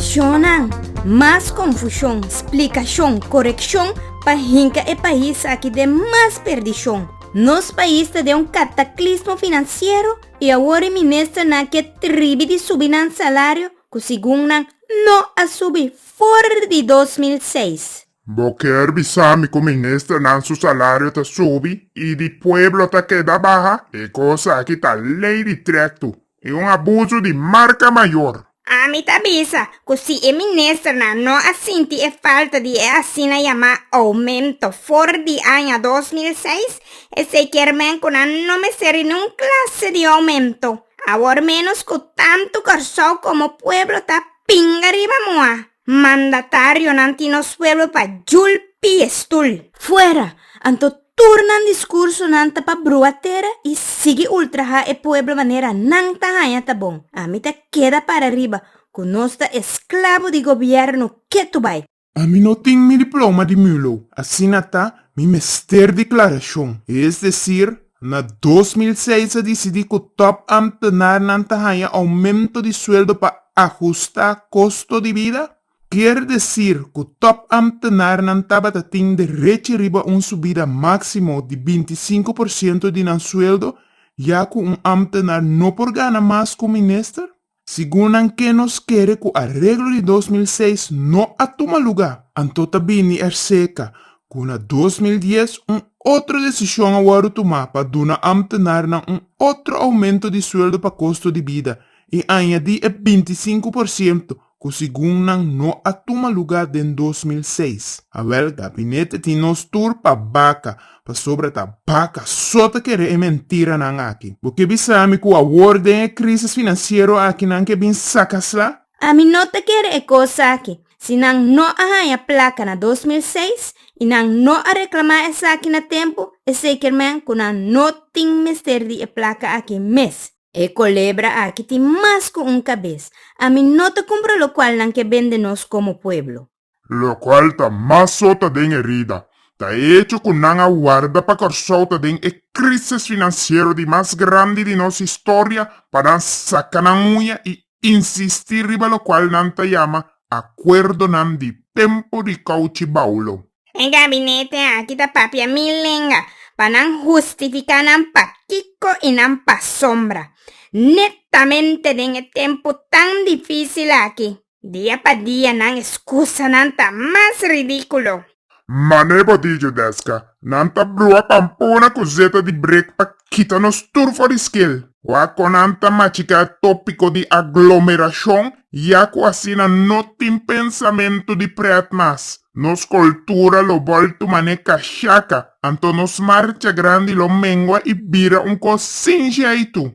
Shonnan, mas confusion, splicacion, coreccion pa hinca e pais aki den mas perdicion. Nos pais ta den un cataclismo financiero y awor e ministernan ke tribi di subi nan salario cu segun nan no a subi for di 2006. Bo kier bisa mi ku ministernan su salario ta subi i di pueblo ta keda baha? E kos aki ta lei di trektu i un abusu di marka mayor. Ami ta bisa ku si e ministernan no a sinti e falta di e asina yamá oumento for di aña dos mil seis, esei kier men ku nan no meseri niun klase di oumento. Awor ménos ku tantu Kòrsou komo pueblo ta pinga riba muha. Mandatarionan tin nos pueblo pa julpi e stul. Fuera! Anto tur nan discursonan ta pa brua tera y sigui ultraha e pueblo manera nan ta haña ta bon. Ami ta keda para riba cu nos ta esclabo di gobierno ketu bay. Ami no tin mi diploma di Mulo, asina ta mi mester declaracion, es decir, Na dos mil seis a disidí ku tòp amtenarnan ta haña oumento di sueldo pa ahustá kosto di bida, kier desir ku tòp amtenarnan tabata tin derechi riba un subida máksimo di binti i sinku por siento di nan sueldo, ya ku un amtenar no por gana mas ku un minister. Sigun nan ke nos kere ku areglo di dos mil seis no a tuma lugá, anto ta bini er seka ku na dos mil dies un otro desishon a wòrdu tumá pa duna ámtenarnan un otro oumento di sueldo pa kosto di bida i añadí e binti i sinku por siento ku sigun nan no a tuma lugá den dos mil seis. Awèl, gabinete tin nos tur pa baka Pasobra ta baka so ta kere e mentiranan aki. Bo ke bisa mi ku awor den e krísis finansiero aki nan ke bin saka sla? Ami no ta kere e kos aki. Si nan no a haña plaka na dos mil seis i nan no a reklamá esaki na tempu, e seker men ku nan no tin mester di e plaka aki mes. E kolebra aki tin mas ku un kabes. Ami no ta kumpra lokual nan ke bende nos komo pueblo. locual ta mas sota den erida, ta e hecho cu nan a warda pa Corsou ta den e crisis financiero di mas grandi di nos historia pa nan saca nan uña y insisti riba locual nan ta yama acuerdonan di tempo di cauchi baulo. E gabinete aki ta papia mil lenga pa nan hustifica nan pakico y nan pasobra, netamente den e tempo tan dificil aki. Dia pa dia nan escusanan ta mas ridiculo. Mane botillo desca nan ta brua pampona cu zeta di break pa kita nos tur for di skil. Wak con nan ta machica e topico di aglomeracion ya cu asina no tin pensamento di pret mas. Nos cultura lo bolto mane cachaca, anto nos marcha grandi lo mengua y bira un cos sin jeitu.